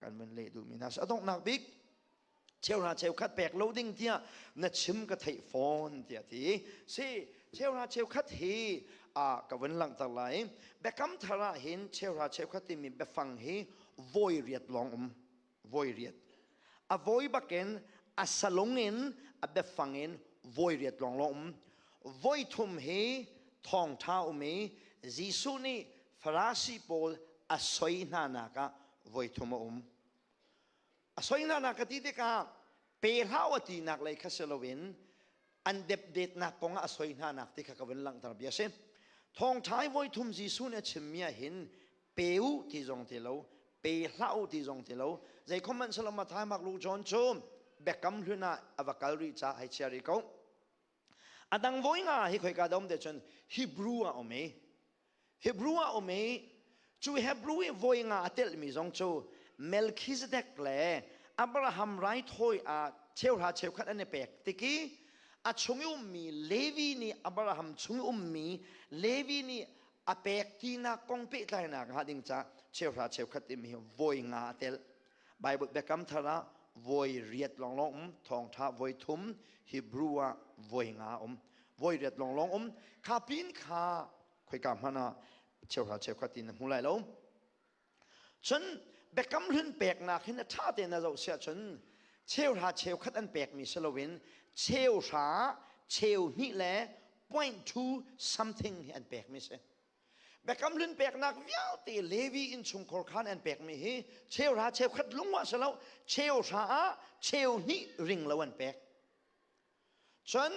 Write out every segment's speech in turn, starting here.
kan min leh duhmi hna a donghnak bik cheu hna cheu khat pek lo ding tiah na chim ka theih fawn tiah ti si cheu hna cheu khat hi a ka vun langhter lai biakam thar ah hin cheu hna cheu khat timi biafang hi voi riat lawng um voi riat a voi bakin a salung in a biafang in voi riat lawng lawng um voi thum hi thawngtha um i Jesuh nih Farasi pawl a soi hna nak ah voi thum a um a soinana ka ti tikah pe hlau a tinak lei kha si loin an depdetnak kong ah a soi hna nak ti kha ka vun langhter bia si thongthai voi thum Jesuh nih a chimmi ah hin pe u ti zong ti lo pe hlau ti zong ti lo zei comment salama thai mak lu john cu biakam hlun ah a va kal rih ca hai chia ri ko Adang voi nga hi khoi ka dom te chun Hebrew a um i Hebrew a um i cu Hebrew i voi nga a tel mi zong cu Melchizedek le Abraham raithawi a cheuhra cheukhat an i pek tiki a chung i ummi Levi nih Abraham chung i ummi Levi nih a pek tinak kong pehtlainak hnga ding ca cheuhra cheukhat timi hi voi nga a tel Bible biakam thar ah voi riat lawnglawng um thawngtha voi thum Hebrew ah voi nga um voi riat lawnglawng um kha pin kha khoika hmana ah cheuhra cheukhat in na hmu lai lo cun biakam hlun peknak hin a tha te na zoh sia cun cheuhra cheukhat an pek mi si loin cheuhra cheu hnih le point two something hi an pek mi si Biakam hlun peknak vialte Levi innchungkhar khan an pekmi hi cheuhra cheukhat lungwah si lo cheu hra ah cheu hnih ring lo an pek cun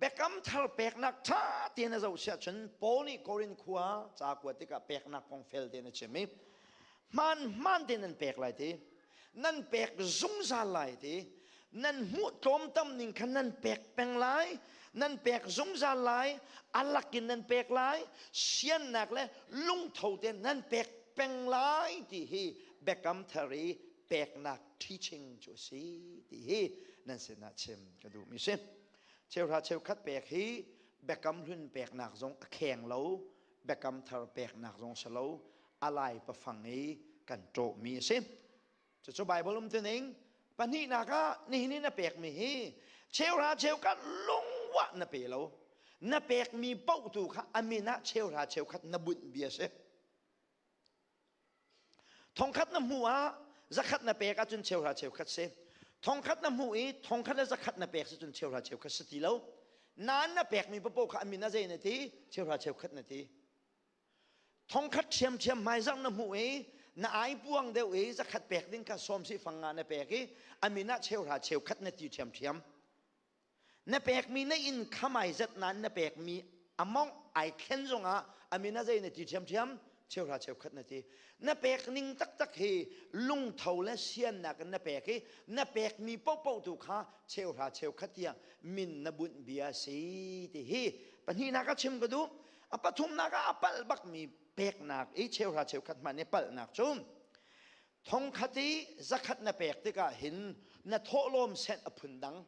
biakam thar peknak ṭha tein a zoh siah cun Paul nih Korin khua ca kuat tikah peknak kong fel tein a chim i hmaan hmaan tein an pek lai ti nan pek zungzal lai ti nan hmuh tlawmtam ning khan nan pek peng lai nan pek zungzal lai alak in nan pek lai siannak le lungtho te nan pek peng lai ti hi biakam thari peknak teaching cu si ti hi nan sinah chim ka duh mi si cheuhra cheukhat pek hi biakam hlun peknak zong a kheng lo biakam thar peknak zong si lo a lai pafang i kan ṭawhmi a si. Cucu Baibal umtuning pahnihnak ah nihin i na pekmi hi cheuhra cheukhat lungwah na pe lo. Na pekmi potu kha a min ah cheuhra cheukhat na bunh bia a si. Thongkhat na hmuh ah zakhat na pek ahcun cheuhra cheukhat si. Thongkhat na hmuh i thongkhat le zakhat na pek si cun cheuhra cheukhat si ti lo. Nan na pekmi papo kha a min ah zei na ti? Cheuhra cheukhat na ti. thongkhat ṭhiamṭhiam hmaizang na hmuh i na ai puang deuh i zakhat pek ding kha sawm si fang nga na pek i a min ah cheuhra cheukhat na ti ṭhiamṭhiam na pekmi na in khamai zat nan na pekmi among ai thlen zongah a min ah zei na ti ṭhiamṭhiam cheuhra cheukhat na ti na pek ning taktak hi lungtho le siannak in na pek i na pekmi popo tu kha cheuhra cheukhat tiang min na bunh bia si ti hi pahnihnak a chim ka duh a pathumnak ah a palh bakmi peknak i cheuhra cheukhat hmanh i palhnak cu thongkhat i zakhat na pek tikah hin na thawhlawm set a phun dang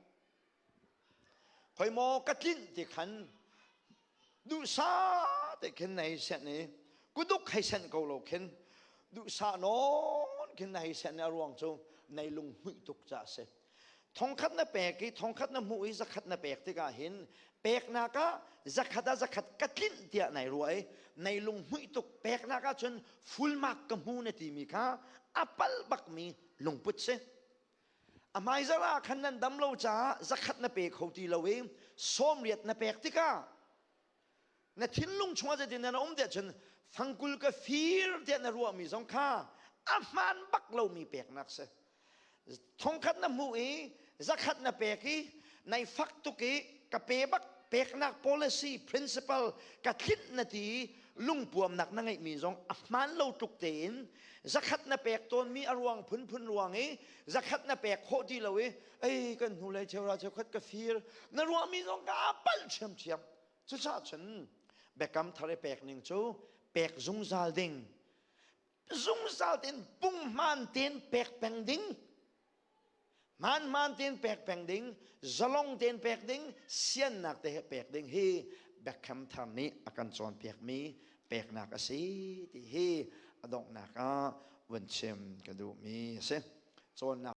hoi maw ka tlinh ti khan duhsa te khin nei sen i kuduk hei sen ko lo khin duhsa nawn khin na hei sen a ruang cu nei lung hmuih tuk ca a si thongkhat na pek i thongkhat na hmuh i zakhat na pek tikah hin peknak ah zakhat ah zakhat ka tlinh tiah nai ruah i nai lung hmuih tuk peknak ah cun fulmak ka hmu na timi kha a pal bakmi lungput si a hmaizar ah khan nan dam lo caah zakhat na pe kho ti lo i sawmriat na pek tikah na thinlung chungah zeitin na um tiah cun fangkul ka fir tiah na ruahmi zong kha a hmaan bak lomi peknak si thongkhat na hmuh i zakhat na pek i nai fak tuk i ka pe bak peknak policy principle ka thlinh na ti lungpuamnak na ngeihmi zong a hmaan lo tuk tein zakhat na pek tawnmi a ruang phunphun ruang i zakhat na pek khawh ti lo i ei kan hnu le cheuhra cheukhat ka fir na ruahmi zong ka palh ṭhiamṭhiam cucah cun biakam thar i pek ning cu pek zungzal ding zungzal tein pung hmaan tein pek peng ding hmaan hmaan tein pek peng ding zalong tein pek ding siannak te he pek ding hi biakam thar nih a kan cawnpiakmi peknak a si ti hi a donghnak ah vun chim ka duhmi a si. Cawnnak